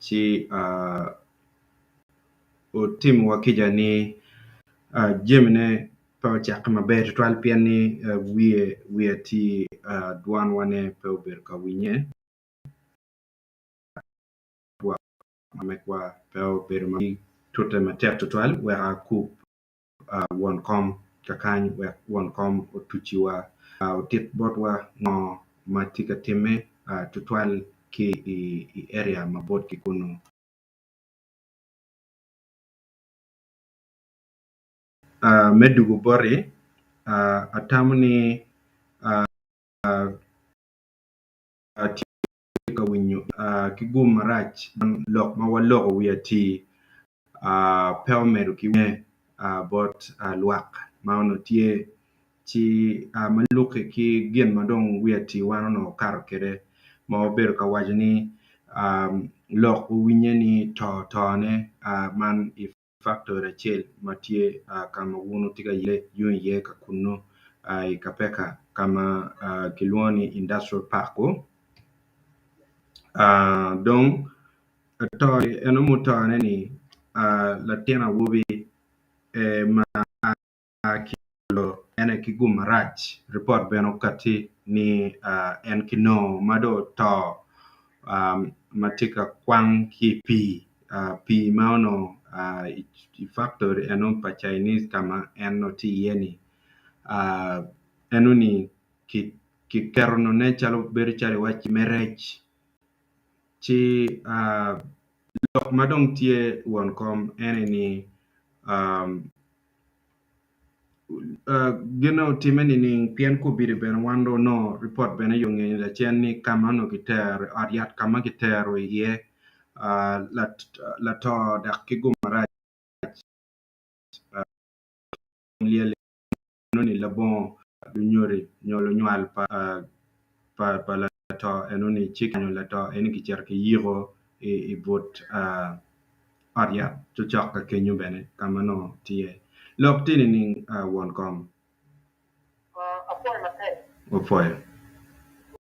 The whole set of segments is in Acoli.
ci otimowa kica ni jamine pe ocakke maber tutwal pien ni wiye atir dwanwa ne pe obedo ka winye twak ma megwa pe obedo ma tute matek tutwal wek akup won kom kakany wek won kom otuciwa. Otit botwa ngo ma tye ka timme tutwal ki i area mabot ki kunu? Me dugu boti, atamo ni atye ka winyo ki gum marac lok ma waloko wi atii. pe omedo ki winye bot lwak ma onongo tye ci ma lukke ki gin ma dong wi atiwa-ni onongo okato kwede ma obedo ka waco ni lok owinye ni to tone man i faktori acel ma tye ka ma wun wutye ka yele yung iye ka kunnu i Kapeka ka ma kilwongo ni industrial park-ku. Atoni eno mutone ni a latin awobi e ma a ki olo en aye ki gum marac. Ripot bene okati ni a en ki noo ma dong oto a ma tye ka kwang ki i pii a pii ma onongo a i faktori eno pa Chinese ka ma en nongo tye iye ni a eno ni ki keto none calo bedo calo iwaci me rec. Ci lok ma dong tye won kom ene ni gine otime nining pien kobedi bene wan dong onongo ripot bene aye ongeyo ni lacen ni ka ma onongo kitero ot yat ka ma kitero iye lato dok ki gumarac lyel iye. neno ni labongo lunyodi nyo lunywal pa lato eno ni ci kenyo lato eno ni kicito ki yiko i but ot yat cocok ka kenyo bene ka ma nongo tye lok tye nining won kom? Apwoyo maber. Wapwoyo.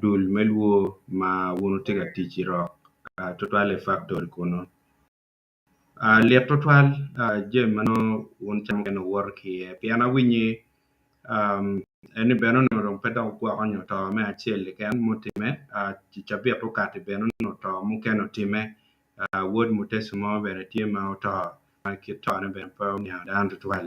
dul me lwor ma wun wutye ka tic i rok twatwal i faktori kunnu. Lit twatwal jami ma nongo wun wucamo kene wuwoto ki iye pien awinyo ni bene onongo dong pe dok gwoko nyo to me acel keken ma otimme, i cabit mukati bene onongo to mukene otimme, wod Mutesi mo bene tye ma oto ma kit tone bene pe oniang dano tutwal.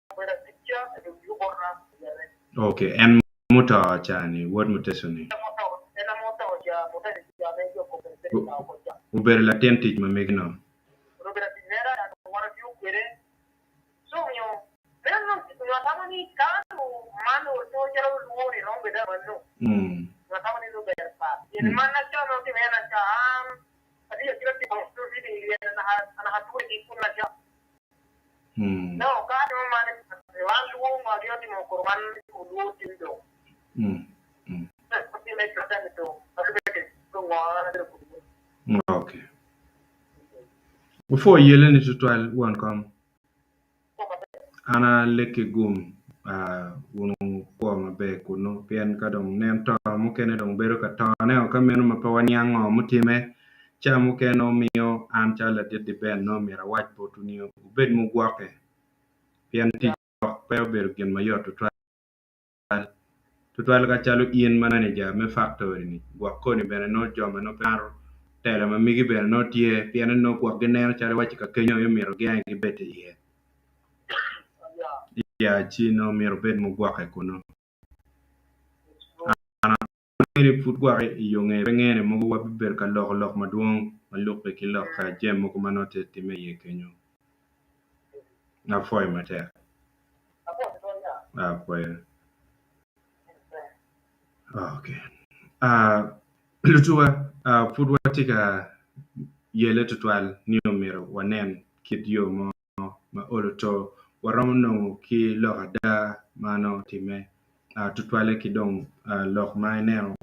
Ok, en muto ca-ni, wod muteco-ni, obedo latin tic ma mege-nu. Nongo ka atimo man, man lwongo adito timo kuro man olwor cwiny jo. Okay. Wupwo yeleni tutwal won kom. An alekki gum ah, wun wukwo maber kunu pien ka dong nen to mukene dong bedo ka tone-o ka meno ma pe waniang ngo mutime Ca mukene omiyo an calo ladit Liben nongo myero awac botwu ni wubed mugwokke, pien tic lok pe obedo gin ma yot tutwal, tutwal ka calo in manager me faktori-ni. Gwok koni bene nongo jo ma nongo pe mato telo ma migi bene nongo tye, pienni nongo gwok gineno calo iwacci ka kenyo aye myero giange gibed iye. Iya, ci nongo myero wubed mugwokke kunnu. Onongo pud gwok i yo ngeye, pe ngene mogo wabibedo ka loko lok madwong ma lukke ki lok ka jami mogo ma nongo tye timme iye kenyo. Nga pwoyo matek? Nga pwoyo? Ok. Lutuwa, pud watye ka yele tutwal ni omyero wanen kit yo mo. nongo ma olo to, waromo nongo ki lok ada ma nongo otimme tutwalle ki dong lok ma ineno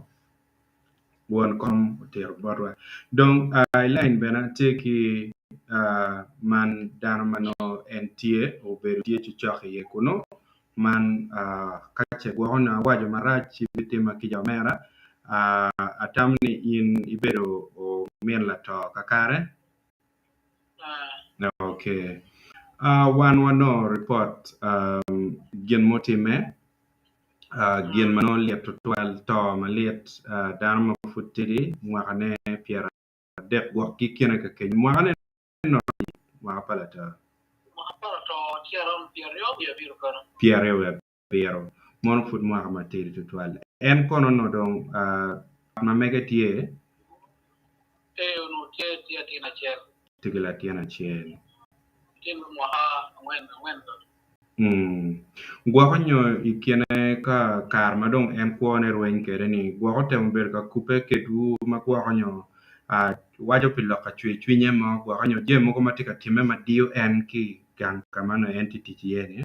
won kom otito botwa. Dong i lain bene tye ki man dano ma nongo en tye obedo tye cocok iye kunu, man ka ce gwoko nongo waco marac ci bitimma kica omera, atamo ni in ibedo omin lato kakare? Wan wanongo ripot gin mutimme, gin ma nongo lit tutwal, to malit, dano ma pud tidi mwakane pyeradek gwok ki kene ka kenyo. Mwakane nongo lit, mwaka pa latar. Pyeraryo wiye abiro kene. abiro, mono pud mwaka matidi tutwal. En kono onongo dong wat ma mege tye? Ee, onongo tye ki latin acel. Tye ki latin acel. Latin me mwaka angwen, angwen dong. Umm, gwoko nyo i kine ka kare ma dong en kwone rweny kwede-ni, gwoko otemo bedo ka kubbe kedwu ma gwoko nyo waco pi lok ka cwercwinye mo gwoko nyo jami mogo ma tye ka timme ma diyo en ki i gang ka ma onongo en tye ka tic iye-ni?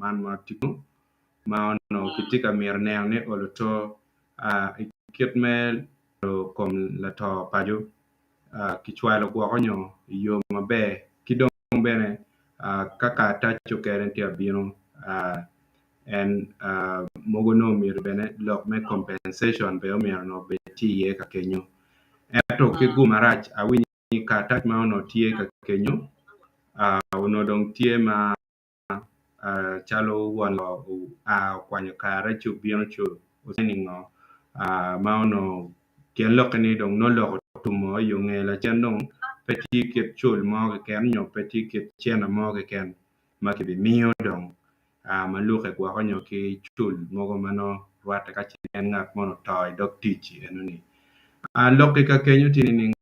man ma tye kunu ma onongo kitye ka mito neno ni olo to i kit me loro kom lato paco kicwalo gwoko nyo i yo maber ki dong bene ka karatac ocukene tye ka bino en mogo nongo omyero bene lok me compensation bene omyero bed tye iye ka kenyo ento ki gum marac awinyo i karatac ma onongo tye ka kenyo onongo dong tye ma calo won ngo oa okwanyo kare ci obino ci owaco ni ngo ma onongo pien lokke ni dong nongo lok otumo i yo nge lacen dong pe tye kit cul mo keken nyo pe tye kit cene mo keken ma kibimiyo dong ma lukke gwoko nyo ki cul mogo ma nongo rwatte ka ce en ngat moni oto i dog tic-ci enoni. Lok i ka kenyo tye nining?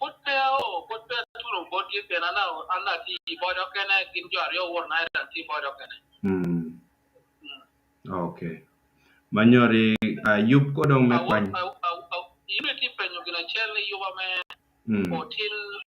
Pud peya aoo, pud peya atuno bot keken, an an atye i bot okene, gin jo aryo owor na ento an atye i bot okene. Mm. Ok. Manyori ah, yub ko dong me Awor, kwany. aw, aw, aw, in itye penyo gin acel ni yuba me Mm. otin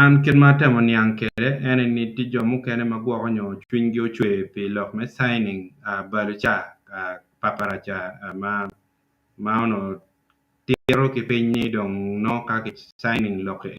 An kit ma atemo niang kwede ene ni tye jo mukene ma gwoko nyo cwinygi ocwe pi lok me cining balo ca, paparaca ma onongo tito ki piny ni dong nongo ka ki cining lok-ki eni.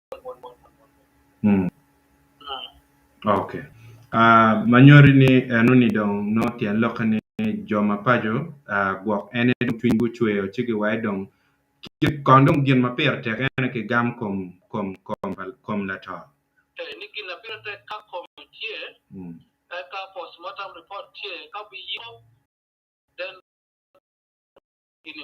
Mm. Ok. Ah, ma nyoti ni eno ni dong nongo tyen lokke ni jo mapaco ah, gwok en aye dong cwiny gucweyo ci giwaye dong ki- kon dong gin ma pire tek en aye ki gam kom kom kom pa kom lato. Eh, ni gin na pire tek ka kome tye, Mm. eka postmortem report tye, ka biyiko den gini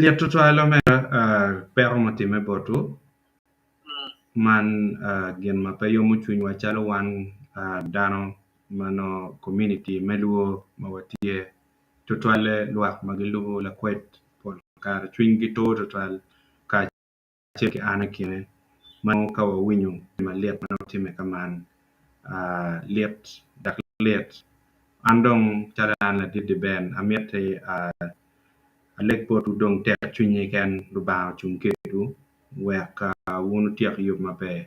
Lyet twatwal lomera peko ma otimme botwu man gin ma pe yomo cwinywa calo wan dano ma nongo komuniti me lwor ma watye tutwalle lwak ma gilubo lakwed pol kare cwinygi tur tutwal kacel ki an kine ma nongo ka wawinyo gin malit ma nongo timme ka man lit dok lit. An dong calo an ladit-ti Ben amiti aleg botwu dong tek cwiny keken Lubanga ocung kedwu wek wun wutyek yub maber.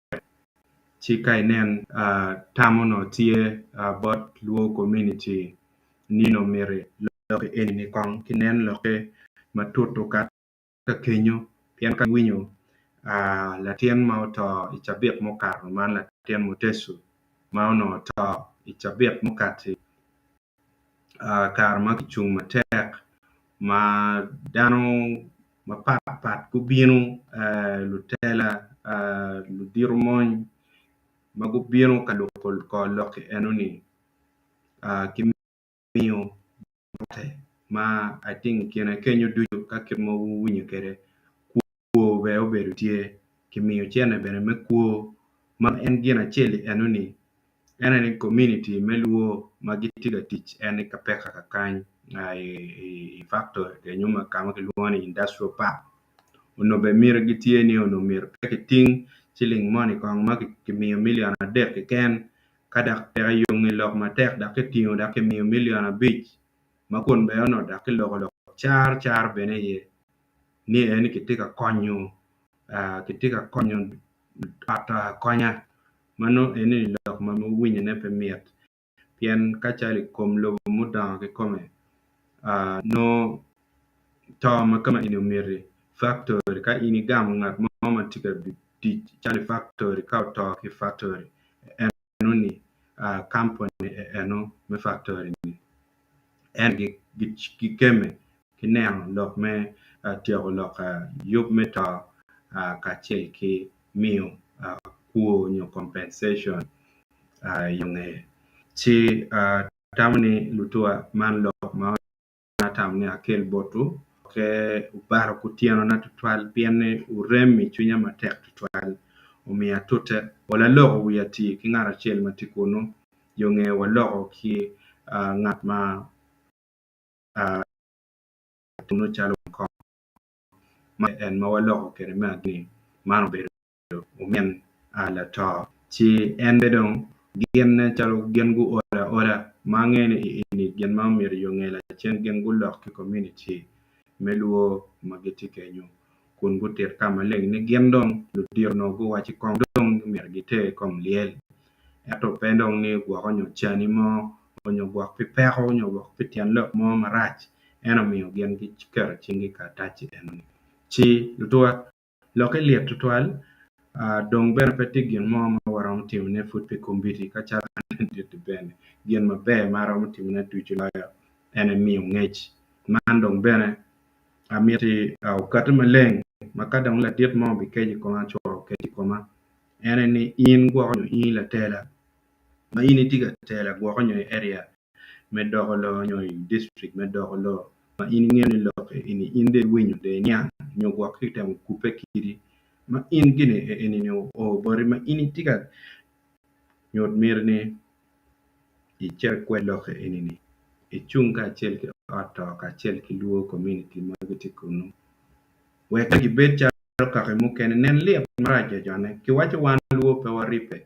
ci ka inen tam onongo tye bot Luo kominiti nino myero iloki eni kong ci nen lokke matut okato ka kenyo pien ka iwinyo latin ma oto i cabit mukato man latin Mutecu ma onongo oto i cabit mukati kare ma kicung matek ma dano mapat pat gubino lutela, ludito mony ma gubino ka loko kor lok enoni ki miyo ma I think kine kenyo ducu ka kit ma wuwinyo kwede. kwo bene obedo tye, kimiyo cene bene me kwo ma en gin acel i enoni en aye ni kominiti me lwo ma gitye ka tic en ni ka peka kakany nga i faktori kenyo ma ka ma kilwongo ni indacitirial pak onongo bene miti gitye ni onongo myero pe kiting ciling moni kong ma kimiyo milion adek keken ka dok peke yongi lok matek dok kitingo dok kimiyo milion abic ma kun bene onongo dok kiloko lok car car bene iye ni en kitye ka konyo aa kitye ka konyo ot akonya ma nongo eni lok ma winyone pe mit pien ka calo i kom lobo mudongo kikome aa nongo to ma ka ma eni omiti factory ka in igamo ngat mo ma tye ka tic calo i factory ka oto ki i factory en neno ni kamponi eno me faktori-ni en gikemme ki neno lok me tyeko lok yub me to kacel ki miyo kwo nyo compensation i yo ngeye. Ci atamo ni lutuwa man lok ma an atamo ni akel botwu pe obaro kutyena tutwal pien ni wurem i cwinya matek tutwal. Omiyo atute, ol aloko wiya ati ki ngat acel ma tye kunnu, yo nge waloko ki ngat ma tunnu calo wun kong. Man aye en ma waloko kwede me adit-ti, man obedo. obedo omin a lato, ci en bene dong ginne calo gin guol aola ma angeyo ni i eni gin ma myero i onge lacen gin gulok ki komuniti me lwo ma gitye kenyo kun gutit ka maleng ni gin dong ludito onongo guwacci kong dong ni myero giter i kom lyel ento pe dong ni gwoko nyo cani mo onyo gwok pi peko onyo gwok pi tyen lok mo marac ento miyo gin giketo cinggi i karataci eno ni ci lutuwa Lokke lit tutwal, dong bene pe tye gin mo ma waromo timone pud pi kombeddi ka calo an adit-ti bene. Gin maber ma aromo timone ducu loyo en aye miyo ngec. Man dong bene amiti okati maleng ma ka dong ladit mo bikeco i koma, co okec i koma, en aye ni in gwoko nyo in i latela ma in itye ka tela gwoko nyo i area me doko lok nyo i dictrik me doko lok ma in ingeyo ni lok eni in dong iwinyo dong iniang nyo gwok ki temo kubbe kidi ma in gin eni o o boti ma in itye ka nyut miti ni icit ikwed lok eni ni icung kacel ki ot to kacel ki lwor komuniti ma gitye kunu wek gibed calo kaki mukene nen lit marac ocone kiwaco wan lwor pe waribbe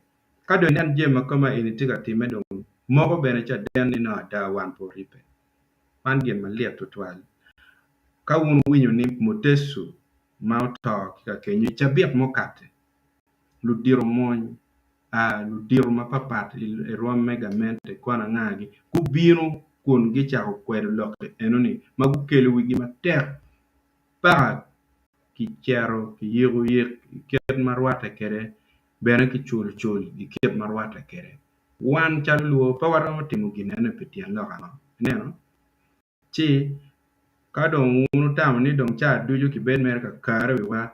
Ka dong inen jami ma kome eni tye ka timme dong moko bene caden ni nongo ada wan pe oribbe. Man gin malit tutwal ka wun wuwinyo ni Mutesu ma oto ki kakenyo i cabit mukate, ludito mony, ludito mapatpat i rwom me gamente ikon angagi gubino kun gicako kwedo lokki enoni ma gukelo wigi matek paka kicero kiyiko yik i kit ma rwatte kwede bene ki cul cul i kit ma rwatte kwede. Wan calo Luo pe waromo timo ginnene pi tyen lok ango? Ineno? Ci, ka dong wun wutamo ni dong caa ducu kibed mere ka kare wiwa,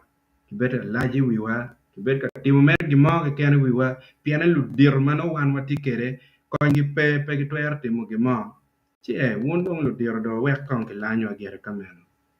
kibed ka lac i wiwa, kibed ka timo mere gin mo keken i wiwa, pienne ludito ma nongo wan watye kwede konygi pe, pe gitwero timo gin mo, ci ee, wun dong ludito do wek kong kilanyowa gire ka meno.